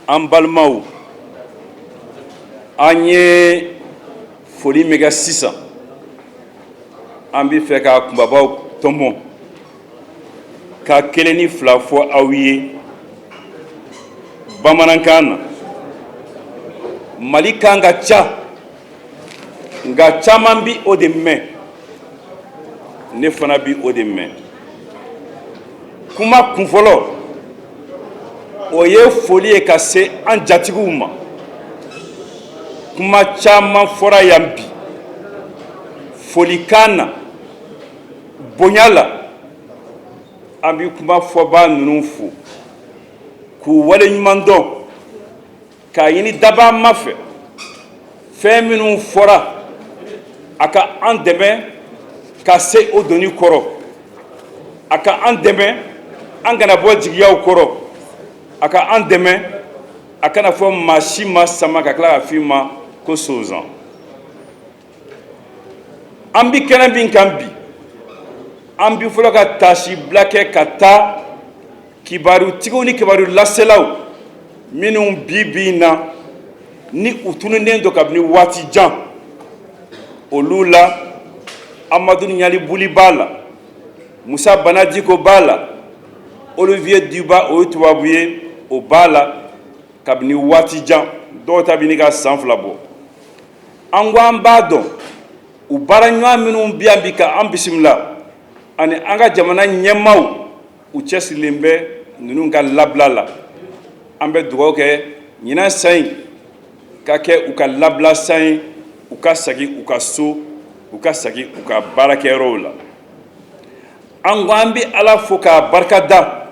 an balimaw an ye foli min kɛ sisan an bɛ fɛ k'a kunbabaw tɔmɔ ka kelen ni fila fɔ aw ye bamanankan na mali kan ka ca nka caman bi o de mɛn ne fana bi o de mɛn kuma kunfɔlɔ o ye foli ye ka se an jatigiw ma kuma caman fɔra yan bi folikan na bonya la an bɛ kuma fɔbaa ninnu fo k'u waleɲuman dɔn k'a ɲini dabaa ma fɛ fɛn minnu fɔra a ka an dɛmɛ ka se o doni kɔrɔ a ka an dɛmɛ an kana bɔ jigiyaw kɔrɔ a ka an dɛmɛ a kana fɔ maa si ma sama ka tila ka f'i ma ko sozan an bi kɛnɛ min kan bi an bi fɔlɔ ka taasibila kɛ ka taa kibarutigiw ni kibaru laselaw minnu bi bi in na ni u tununnen don kabini waati jan olu la amadun ɲalibuli b'a la musa bana diko b'a la olivier dubois o ye tubabu ye o b'a la kabini waati jan dɔw ta bi ɲini ka san fila bɔ an ko an b'a dɔn u baaraɲɔgɔn minnu bɛ yan bi ka an bisimila ani an ka jamana ɲɛmaaw u cɛsirilen bɛ ninnu ka labila la an bɛ dugaw kɛ ɲinan san in ka kɛ u ka labila san ye u ka segin u ka so u ka segin u ka baarakɛyɔrɔw la an ko an bɛ ala fo k'a barika da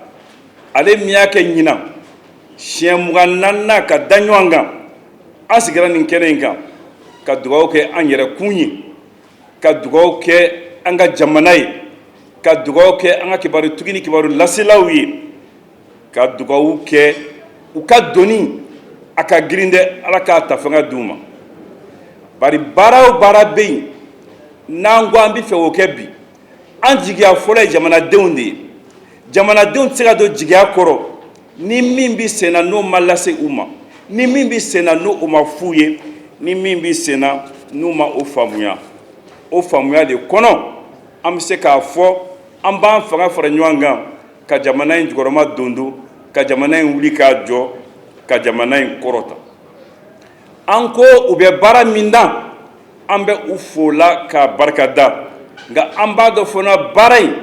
ale min y'a kɛ ɲinan siɲɛ mugan ni naani ka da ɲɔgɔn kan an sigira nin kɛnɛ in kan ka dugaw kɛ an yɛrɛkun ye ka dugaw kɛ an ka jamana ye ka dugaw kɛ an ka kibarutigi ni kibaru laselaw ye ka dugaw kɛ u ka doni a ka girin dɛ ala k'a ta fanga di u ma bari baara o baara bɛ yen n'an ko an bɛ fɛ o kɛ bi an jigiya fɔlɔ ye jamanadenw de ye jamanadenw tɛ se ka don jigiya kɔrɔ ni min bɛ senna n'o ma lase u ma ni min bɛ senna n'o ma f'u ye ni min bɛ senna n'u ma o faamuya o faamuya de kɔnɔ an bɛ se k'a fɔ an b'an fanga fara ɲɔgɔn kan ka jamana in jukɔrɔma dondon ka jamana in wuli k'a jɔ ka jamana in kɔrɔta an ko u bɛ baara min na an bɛ u fo la k'a barika da nka an b'a dɔn fana baara in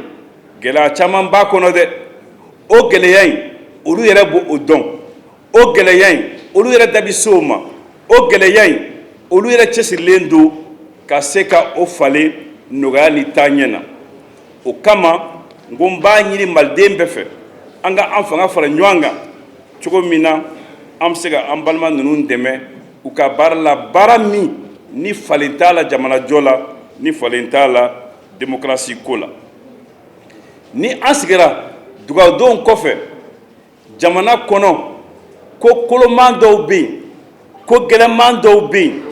gɛlɛya caman b'a kɔnɔ dɛ o gɛlɛya in olu yɛrɛ b'o dɔn o gɛlɛya in olu yɛrɛ da bɛ se o ma o gɛlɛya in olu yɛrɛ cɛsirilen don ka se ka o falen nɔgɔya ni taaɲɛ na o kama n ko n b'a ɲini maliden bɛɛ fɛ an ka an fanga fara ɲɔgɔn kan cogo min na an bɛ se ka an balima ninnu dɛmɛ u ka baara la baara min ni falen t'a la jamanajɔ la ni falen t'a la demokarasi ko la ni an sigira dugawudonw kɔfɛ jamana kɔnɔ ko koloman dɔw bɛ yen ko gɛlɛman dɔw bɛ yen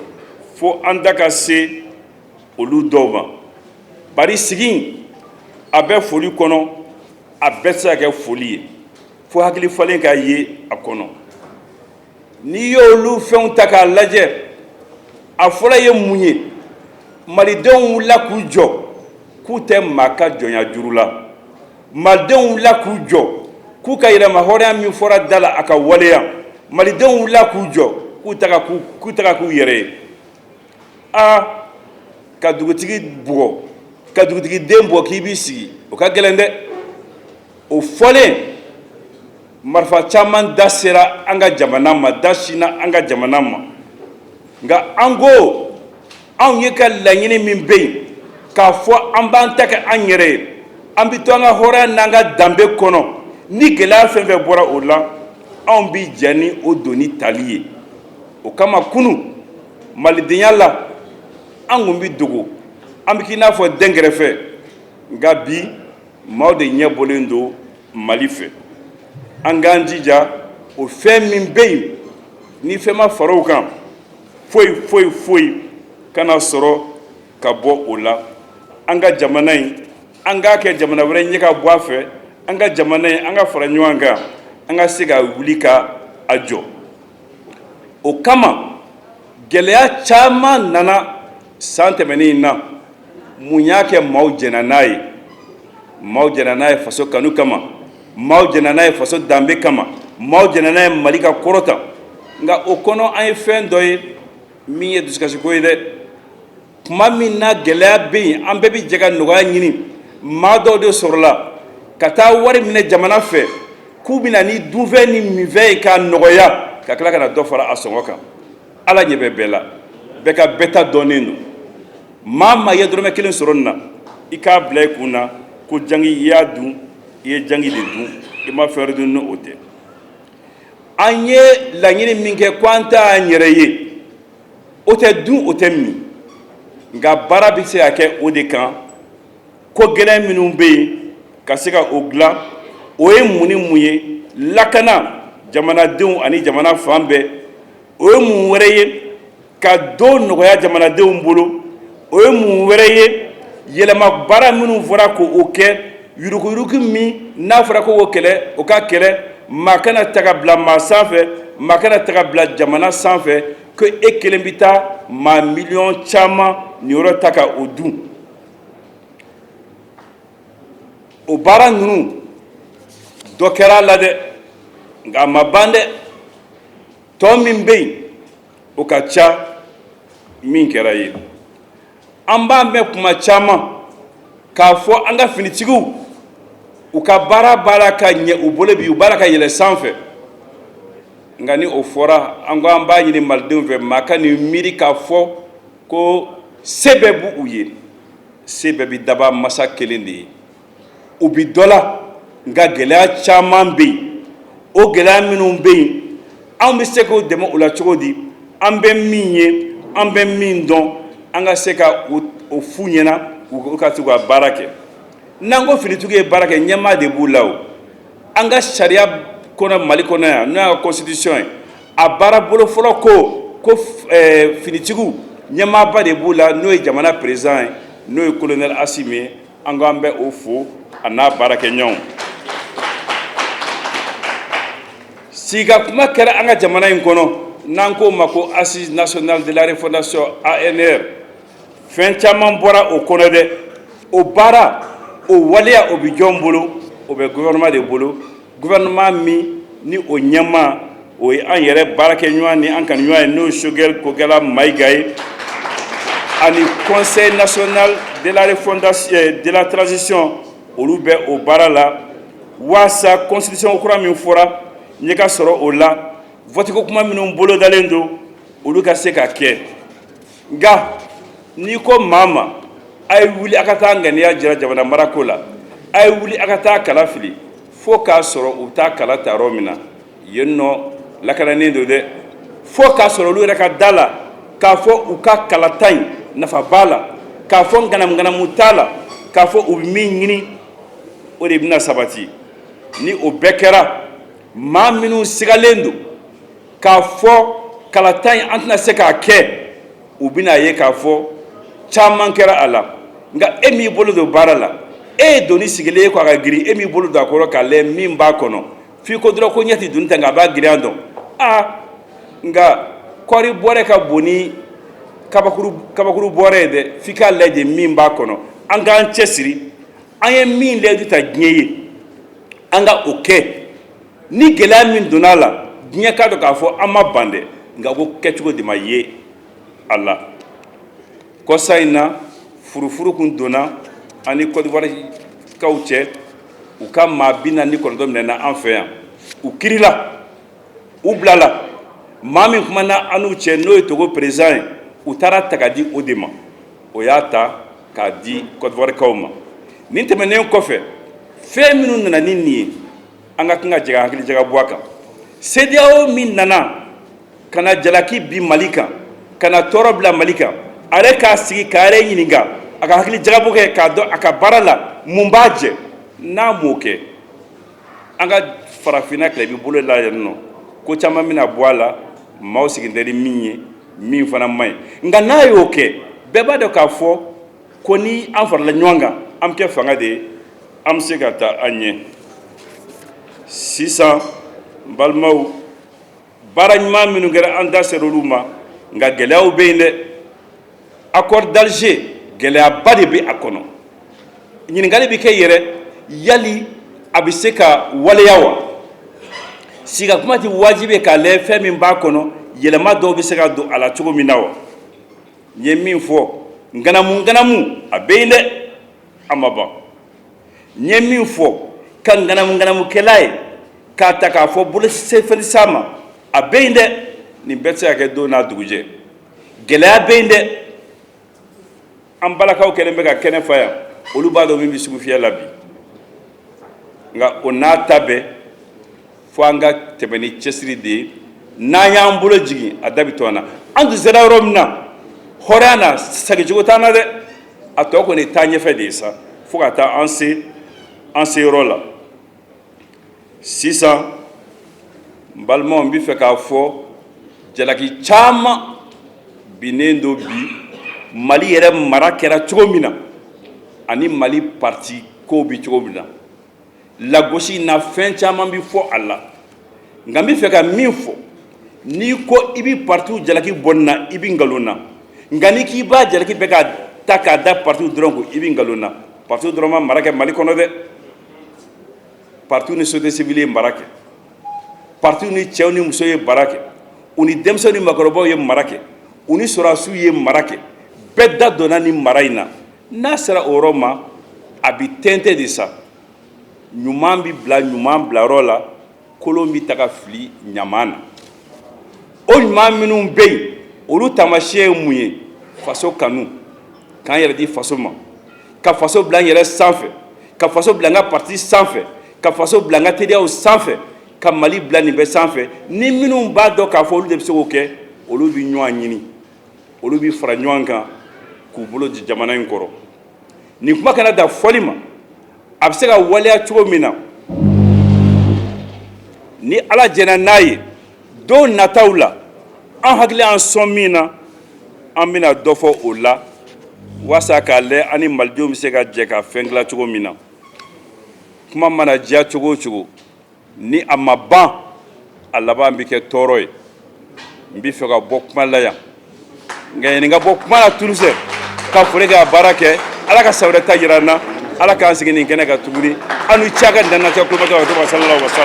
fo an da ka se olu dɔw ma bari sigi in a bɛ foli kɔnɔ a bɛɛ tɛ se ka kɛ foli ye fo hakili falen ka ye a kɔnɔ n'i y'olu fɛnw ta k'a lajɛ a fɔlɔ ye mun ye malidenw wulila k'u jɔ k'u tɛ maa ka jɔnya juru la malidenw wulila k'u jɔ k'u ka yɛrɛmahɔrɔnya min fɔra da la a ka waleya malidenw wulila k'u jɔ k'u k'u ta ka k'u yɛrɛ ye a ka dugutigi bugɔ ka dugutigi den bugɔ k'i b'i sigi o ka gɛlɛn dɛ o fɔlen marifa caman da sera an ka jamana ma da sinna an ka jamana ma nka an ko anw ye ka laɲini min bɛ yen k'a fɔ an b'an ta kɛ an yɛrɛ ye an bɛ to an ka hɔrɔnya n'an ka danbe kɔnɔ ni gɛlɛya fɛn fɛn bɔra o la anw bɛ jɛn ni o doni tali ye o kama kunu malidenya la an tun bɛ dogo an bɛ k'i n'a fɔ dɛnkɛrɛfɛ nka bi maaw de ɲɛ bɔlen don mali fɛ an k'an jija o fɛn min bɛ yen ni fɛn ma fara o kan foyi foyi foyi kana sɔrɔ ka bɔ o la an ka jamana in an k'a kɛ jamana wɛrɛ ɲɛ ka bɔ a fɛ an ka jamana in an ka fara ɲɔgɔn kan an ka se ka wuli ka a jɔ o kama gɛlɛya caman nana san tɛmɛnen in na mun y'a kɛ maaw jɛnna n'a ye maaw jɛnna n'a ye faso kanu kama maaw jɛnna n'a ye faso danbe kama maaw jɛnna n'a ye mali ka kɔrɔta nka o kɔnɔ an ye fɛn dɔ ye min ye dusukasiko ye dɛ tuma min na gɛlɛya bɛ yen an bɛɛ bɛ jɛ ka nɔgɔya ɲini maa dɔw de sɔrɔla ka taa wari minɛ jamana fɛ k'u bɛna ni dunfɛn ni minfɛn ye k'a nɔgɔya ka tila ka na dɔ fara a sɔngɔ kan ala ɲɛ bɛ bɛɛ la bɛɛ ka bɛɛ ta dɔnnen don maa maa ye dɔrɔmɛ kelen sɔrɔ nin na i k'a bila i kun na ko jangi i y'a dun i ye jangi de dun i ma fɛn wɛrɛ dun ni o tɛ an ye laɲini min kɛ ko an t'an yɛrɛ ye o tɛ dun o tɛ min nka baara bɛ se ka kɛ o de kan ko gɛlɛn minnu bɛ yen ka se ka o dilan o ye mun ni mun ye lakana jamanadenw ani jamana fan bɛɛ o ye mun wɛrɛ ye ka do nɔgɔya jamanadenw bolo o ye mun wɛrɛ ye yɛlɛma baara minnu fɔra ko o kɛ Yuruguyurugu min n'a fɔra ko k'o kɛlɛ, o ka kɛlɛ, maa kana ta ka bila maa sanfɛ, maa kana ta ka bila jamana sanfɛ, ko e kelen bɛ taa maa miliyɔn caman niyɔrɔ ta ka o dun. O baara ninnu, dɔ kɛra a la dɛ, nka a ma ban dɛ, tɔ min bɛ yen, o ka ca min kɛra ye. an b'a mɛn kuma caman k'a fɔ an ka finitigiw u ka baara baara ka ɲɛ u bolo bi u baara ka yɛlɛ sanfɛ nka ni o fɔra an ko an b'a ɲini malidenw fɛ maa kan'i miiri k'a fɔ ko se bɛɛ b'u ye se bɛɛ bɛ daba masa kelen de ye u bɛ dɔ la nka gɛlɛya caman bɛ yen o gɛlɛya minnu bɛ yen an bɛ se k'u dɛmɛ u la cogo di an bɛ min ye an bɛ min dɔn an ka se ka o f'u ɲɛna u ka se ka baara kɛ n'an ko finitigiw ye baara kɛ ɲɛmaa de b'u la an ka sariya kɔnɔ mali kɔnɔ yan n'o y'an ka constitution ye a baara bolo fɔlɔ ko ko finitigiw ɲɛmaaba de b'u la n'o ye jamana président ye n'o ye colonel Assimi ye an ko an bɛ o fo a n'a baarakɛɲɔgɔnw sigi ka kuma kɛra an ka jamana in kɔnɔ n'an k'o ma ko assises nationales de la refondation ANR fɛn caman bɔra o kɔnɔ dɛ o baara o waleya o bɛ jɔn bolo o bɛ gouvernement de bolo gouvernement min ni o ɲɛmaa o ye an yɛrɛ baarakɛɲɔgɔn ni an kanuɲɔgɔn ye n'o ye Choguel Kokalla Mayiga ye ani conseil national de la refondation euh, de la transition olu bɛ o baara la waasa constitution kura min fɔra ɲɛ ka sɔrɔ o la vote ko kuma minnu bolodalen don olu ka se ka kɛ nka n'i ko maa ma a ye wuli a ka taa ŋaniya jira jamana marako la a ye wuli a ka taa kala fili fo k'a sɔrɔ u taa kala ta yɔrɔ min na yen nɔ lakananen don dɛ fo k'a sɔrɔ olu yɛrɛ ka da la k'a fɔ u ka kalata in nafa b'a la k'a fɔ ŋanamuŋanamu t'a la k'a fɔ u bɛ min ɲini o de bɛna sabati ni o bɛɛ kɛra maa minnu sigalen don k'a fɔ kalata in an tɛna se k'a kɛ u bɛna ye k'a fɔ caman kɛra a la nka e m'i bolo don baara la e ye doni sigilen ye ko a ka girin e m'i bolo don a kɔrɔ k'a lajɛ min b'a kɔnɔ f'i ko dɔrɔn ko ɲɛ tɛ doni ta nka a b'a girinya dɔn aa nka kɔɔri bɔrɛ ka bon ni kabakuru bɔrɛ ye dɛ f'i k'a lajɛ min b'a kɔnɔ an k'an cɛ siri an ye min layidu ta diɲɛ ye an ka o kɛ Ni gɛlɛya min donna a la diɲɛ k'a dɔn k'a fɔ an ma ban dɛ nka ko kɛcogo de ma ye a la kɔsa in na furufuru kun donna an ni Côte d'Ivoire kaw cɛ u ka maa bi naani ni kɔnɔntɔn minɛna an fɛ yan u kiirila u bilala maa min kumana an n'u cɛ n'o ye Togo président ye u taara taga di o de ma o y'a ta k'a di Côte d'Ivoire kaw ma nin tɛmɛnen kɔfɛ fɛn minnu nana ni nin ye An ka kan ka jɛ ka hakili jagabɔ a kan CEDEAO min nana ka na jalaki bin mali kan ka na tɔɔrɔ bila mali kan a yɛrɛ k'a sigi k'a yɛrɛ ɲininka a ka hakili jagabɔ kɛ k'a dɔn a ka baara la mun b'a jɛ n'a m'o kɛ an ka farafinna tilebin bolo la yan nɔ ko caman bɛna bɔ a la maaw sigilen tɛ ni min ye min fana man ɲi nka n'a y'o kɛ bɛɛ b'a dɔn k'a fɔ ko ni an farala ɲɔgɔn kan an bɛ kɛ fanga de ye an bɛ se ka taa an ɲɛ sisan balimaw baara ɲuman minnu kɛra an da sera olu ma nka gɛlɛyaw bɛ yen dɛ accord d'Alger gɛlɛyaba de bɛ a kɔnɔ ɲininkali bɛ kɛ yɛrɛ yali a bɛ se ka waleya wa siga kuma tɛ wajibi k'a lajɛ fɛn min b'a kɔnɔ yɛlɛma dɔw bɛ se ka don a la cogo min na wa n ye min fɔ ŋanamuŋanamu a bɛ yen dɛ a ma ban n ye min fɔ ka ŋanamuŋanamukɛla ye k'a ta k'a fɔ bolo sɛfɛ sa ma a bɛ yen dɛ nin bɛɛ tɛ se ka kɛ don n'a dugujɛ gɛlɛya bɛ yen dɛ an balakaw kɛlen bɛ ka kɛnɛ fa yan olu b'a dɔn min bɛ sugufiyɛ la bi nka o n'a ta bɛɛ fo an ka tɛmɛ ni cɛsiri de ye n'an y'an bolo jigin a da bɛ to an na an tun sera yɔrɔ min na hɔrɔnya na segincogo t'an na dɛ a tɔ kɔni taa ɲɛfɛ de ye sa fo ka taa an se an se yɔrɔ la sisan n balimaw n bɛ fɛ k'a fɔ jalaki caman binnen don bi mali yɛrɛ mara kɛra cogo min na ani mali pati Kow bɛ cogo min na, lagosi in na fɛn caman bɛ fɔ a la, nka n bɛ fɛ ka min fɔ, n'i ko i bɛ partiw jalaki bɔ nin na, i bɛ nkalon na, nka n'i k'i b'a jalaki bɛɛ ka ta k'a da partiw dɔrɔn kun, i bɛ nkalon na, partiw dɔrɔn ma mara kɛ Mali kɔnɔ dɛ, partiw ni société civile ye mara kɛ, partiw ni cɛw ni musow ye mara kɛ, u ni denmisɛnw ni maakɔrɔbaw ye mara kɛ, u ni sɔrɔdasiw ye mara kɛ, bɛɛ da donna nin mara in na. n'a sera o yɔrɔ ma a bɛ tɛntɛn de sa ɲuman bɛ bila ɲuman bilayɔrɔ la kolon bɛ taga fili ɲaman na o ɲuman minnu bɛ yen olu taamasiyɛn ye mun ye faso kanu k'an yɛrɛ di faso ma ka faso bila an yɛrɛ sanfɛ ka faso bila an ka parti sanfɛ ka faso bila an ka teriyaw sanfɛ ka mali bila nin bɛɛ sanfɛ ni minnu b'a dɔn k'a fɔ olu de bɛ se k'o kɛ olu bɛ ɲɔgɔn ɲini olu bɛ fara ɲɔgɔn kan k'u bolo di jamana in kɔrɔ nin kuma kana dan fɔli ma a bɛ se ka waleya cogo min na ni ala jɛnna n'a ye don nataw la an hakili an sɔn min na an bɛna dɔ fɔ o la walasa k'a lajɛ an ni malidenw bɛ se ka jɛ ka fɛn dilan cogo min na kuma mana diya cogo o cogo ni a ma ban a laban bɛ kɛ tɔɔrɔ ye n bɛ fɛ ka bɔ kuma la yan nka yanni n ka bɔ kuma la tuuru fɛ ka foli kɛ a baara kɛ ala ka san wɛrɛ ta jira an na ala k'an sigi nin kɛnɛ kan tuguni an ni ca ka danjɛ kojɔ sa sa